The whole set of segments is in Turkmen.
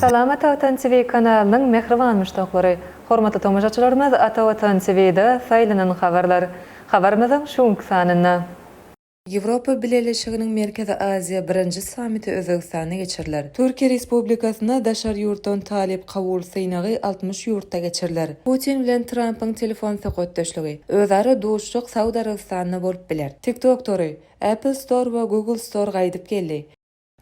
Salam Ata Watan TV kanalynyň mähriban muşdaklary! Hormatly tomaşaçylarymyz Ata Watan TV-da saýlanan habarlar. Habarymyzyň şu günki sanynda. Ýewropa Bileleşiginiň Merkezi Aziýa birinji sammiti Özbegistanda geçiriler. Türkiýe Respublikasyna daşary ýurtdan talyp kabul synagy altmyş ýurtda geçiriler. Putin bilen Trampyň telefon söhbetdeşligi, özara duşuşyk Saud Arabystanda bolup biler. TikTok tory, Apple Store we Google Store gaýdyp geldi.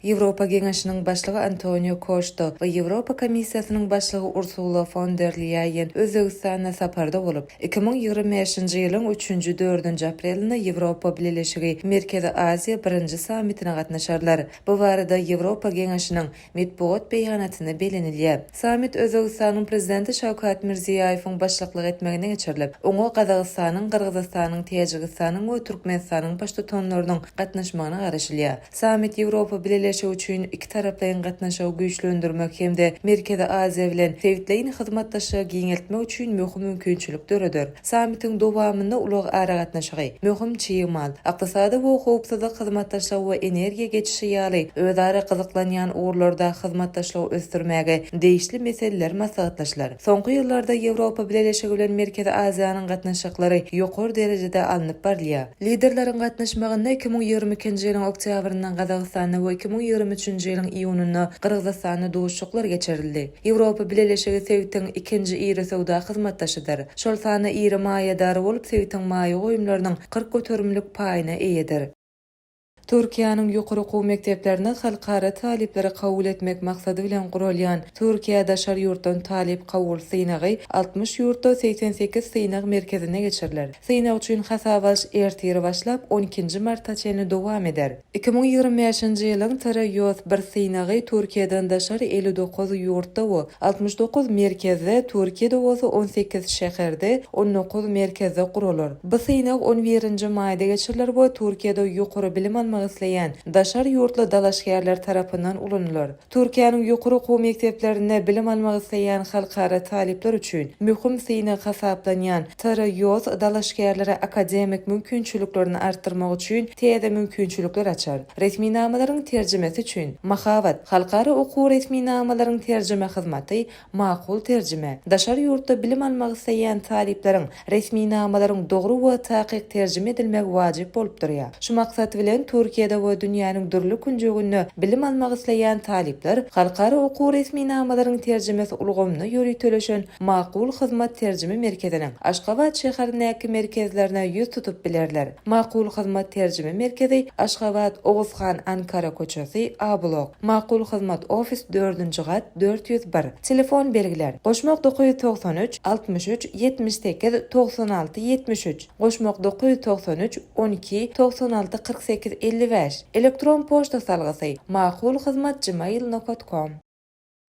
Ýewropa Geňeşiniň Başlygy Antonio Koşta we Ýewropa Komissiýasynyň Başlygy Ursula fon der Lýaýen Özbegistanda saparda bolup, iki müň ýigrimi bäşinji ýylyň üçünji, dördünji aprelinde Ýewropa Bileleşigi, Merkezi Aziýa birinji sammitine gatnaşarlar. Bu barada Ýewropa Geňeşiniň metbugat beýanatynda bellenilýär. Sammit Özbegistanyň Prezidenti Şawkat Mirziýaýewiň başlyklyk etmeginde geçirilip, oňa Gazagystanyň, Gyrgyzystanyň, Täjigistanyň we Türkmenistanyň Baştutanlarynyň gatnaşmagyna garaşylýar. Sammit Ýewropa Bileleşigi üçin ikitaraplaýyn gatnaşygy güýçlendirmek hem-de Merkezi Aziýa bilen sebitleýin hyzmatdaşlygy giňeltmek üçin möhüm mümkinçilik döreder. Sammitiň dowamynda ulag-aragatnaşygy, möhüm çig mal, ykdysady we howpsuzlyk hyzmatdaşlygy we energiýa geçişi ýaly özara gyzyklanýan ugurlarda hyzmatdaşlygy ösdürmäge degişli meseleler maslahatlaşylar. Soňky ýyllarda Ýewropa Bileleşigi bilen Merkezi Aziýanyň gatnaşyklary ýokary derejede alnyp barylýar. Liderleriň gatnaşmagynda iki müň ýigrimi ikinji ýylyň oktýabrynda Gazagystanda we iki müň ýigrimi üçünji ýylyň iýunynda Gyrgyzystanda duşuşyklar geçirildi. Ýewropa Bileleşigi sebitiň ikinji iri söwda hyzmatdaşydyr. Şol sanda iri maýadary bolup, sebitiň maýa goýumlarynyň kyrk göterimlik paýyna eýedir. Türkiýäniň ýokary okuw mekdeplerine halkara talyplary kabul etmek maksady bilen guralýan Türkiýä daşary ýurtdan talyp kabul synagy altmyş ýurtda segsen sekiz synag merkezinde geçiriler. Synag üçin hasaba alyş ertir başlap, on ikinji marta çenli dowam eder. Iki müň ýigrimi bäşinji ýylyň TRYOS bir synagy Türkiýeden daşary elli dokuz ýurtda we Altmyş dokuz merkezde, Türkiýede bolsa on sekiz şäherde, on dokuz merkezde guralar. Bu synag on birinji maýda geçiriler we Türkiýede ýokary bilim almak isleýän daşary ýurtly dalaşgärler tarapyndan ulanylar. Türkiýäniň ýokary okuw mekdeplerinde bilim almak isleýän halkara talyplar üçin möhüm synag hasaplanýan TRYOS dalaşgärlere akademik mümkinçiliklerini artdyrmak üçin täze mümkinçilikler açar. Resminamalaryň terjimesi üçin, Mahabat, Halkara okuw resminamalaryň terjime hyzmaty, Makul terjime, daşary ýurtda bilim almak isleýän talyplaryň resminamalaryň dogry we takyk terjime edilmegi wajyp bolup durýar. Şu maksat bilen, Türkiýede we dünýäniň dürli künjeginde bilim almak isleýän talyplar Halkara okuw resminamalaryň terjimesi ulgamyna ýöriteleşen Makul Hyzmat terjime merkeziniň Aşgabat şäherindäki merkezlerine ýüz tutup bilerler. Makul Hyzmat terjime merkezi Aşgabat, Oguzhan, Ankara köçesi, A blok. Makul Hyzmat ofis dördünji gat dört ýüz bir. Telefon belgiler, Goşmak dokuz ýüz togsan üç, altmyş üç, ýetmiş sekiz, togsan alty, ýetmiş üç, Goşmak dokuz ýüz togsan üç, on iki, togsan alty, kyrk sekiz, elli bäş. Elektron poçta salgysy, Makul Hyzmat gmail nokat kom.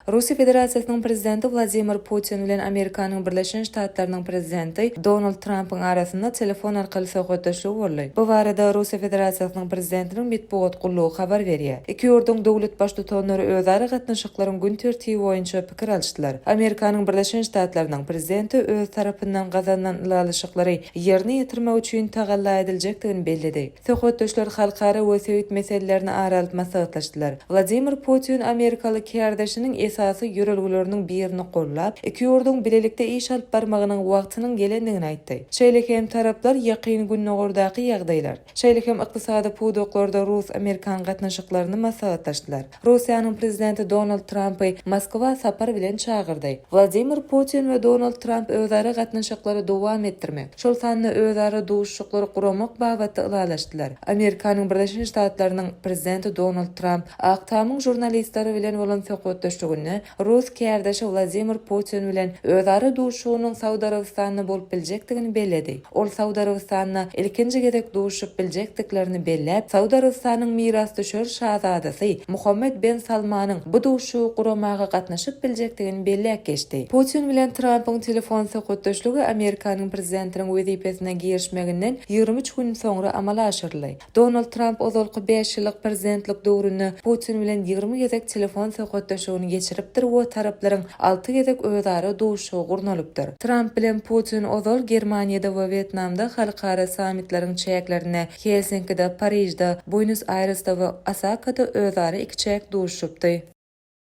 Russiýa Federasiýasynyň Prezidenti Wladimir Putin bilen Amerikanyň Birleşen Ştatlarynyň Prezidenti Donald Trampyň arasynda telefon arkaly söhbetdeşligi boldy. Bu barada Russiýa Federasiýasynyň Prezidentiniň metbugat gullugy habar berýär. Iki ýurduň döwlet Baştutanlary özara gatnaşyklaryň gün tertibi boýunça pikir alyşdylar. Amerikanyň Birleşen Ştatlarynyň Prezidenti öz tarapyndan gazanylan ylalaşyklary ýerine ýetirmek üçin tagalla ediljekdigini belledi. Söhbetdeşler halkara we sebit meselelerini ara alyp maslahatlaşdylar. Wladimir Putin amerikaly kärdeşiniň esasy ýörelgeleriniň birini gollap, iki ýurduň bilelikde iş alyp barmagynyň wagtynyň gelendigini aýtdy. Şeýle hem taraplar Ýakyn Gündogardaky ýagdaýlar, şeýle hem ykdysady pudaklarda rus-amerikan gatnaşyklaryny maslahatlaşdylar. Russiýanyň prezidenti Donald Trampy Moskwa sapar bilen çagyrdy. Wladimir Putin we Donald Tramp özara gatnaşyklary dowam etdirmek, şol sanda özara duşuşyklary guramak babatda ylalaşdylar. Amerikanyň Birleşen Ştatlarynyň prezidenti Donald Tramp Ak tamyň žurnalistleri bilen bolan söhbetdeşliginde Rus kärdeşi Wladimir Putin bilen özara duşuşygynyň Saud Arabystanda bolup biljekdigini belledi. Ol Saud Arabystanda ilkinji gezek duşuşyp biljekdiklerini belläp, Saud Arabystanyň mirasdüşer şazadasy Muhammed Ben Salmanyň bu duşuşygy guramaga gatnaşyp biljekdigini belläp geçdi. Putin bilen Trampyň telefon söhbetdeşligi Amerikanyň prezidentiniň wezipesine girişmeginden ýigrimi üç gün soňra amala aşyryldy. Donald Tramp ozalky bäş ýyllyk prezidentlik döwründe Putin bilen ýigrimi gezek telefon söhbetdeşigini geçiripdir we taraplaryň alty gezek özara duşuşygy gurnalypdyr. Tramp bilen Putin ozal Germaniýada we Wýetnamda halkara sammitleriň çäklerinde, Helsinkide, Parižde, Buenos-Aýresde we Osakada özara ikiçäk duşuşypdy.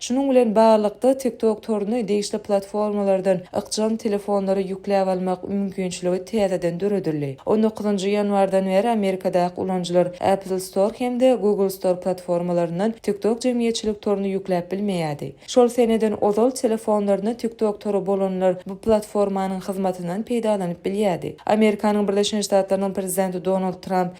Şunuň bilen baglylykda, TikTok toruny degişli platformalardan ykjam telefonlara ýükläp almak mümkinçiligi täzeden döredildi. On dokuzynjy ýanwardan bäri Amerikadaky ulanyjylar Apple Store hem-de Google Store platformalaryndan TikTok jemgyýetçilik toruny ýükläp bilmeýärdi. Şol seneden ozal telefonlarynda TikTok tory bolanlar bu platformanyň hyzmatyndan peýdalanyp bilýärdi. Amerikanyň Birleşen Ştatlarynyň prezidenti Donald Tramp,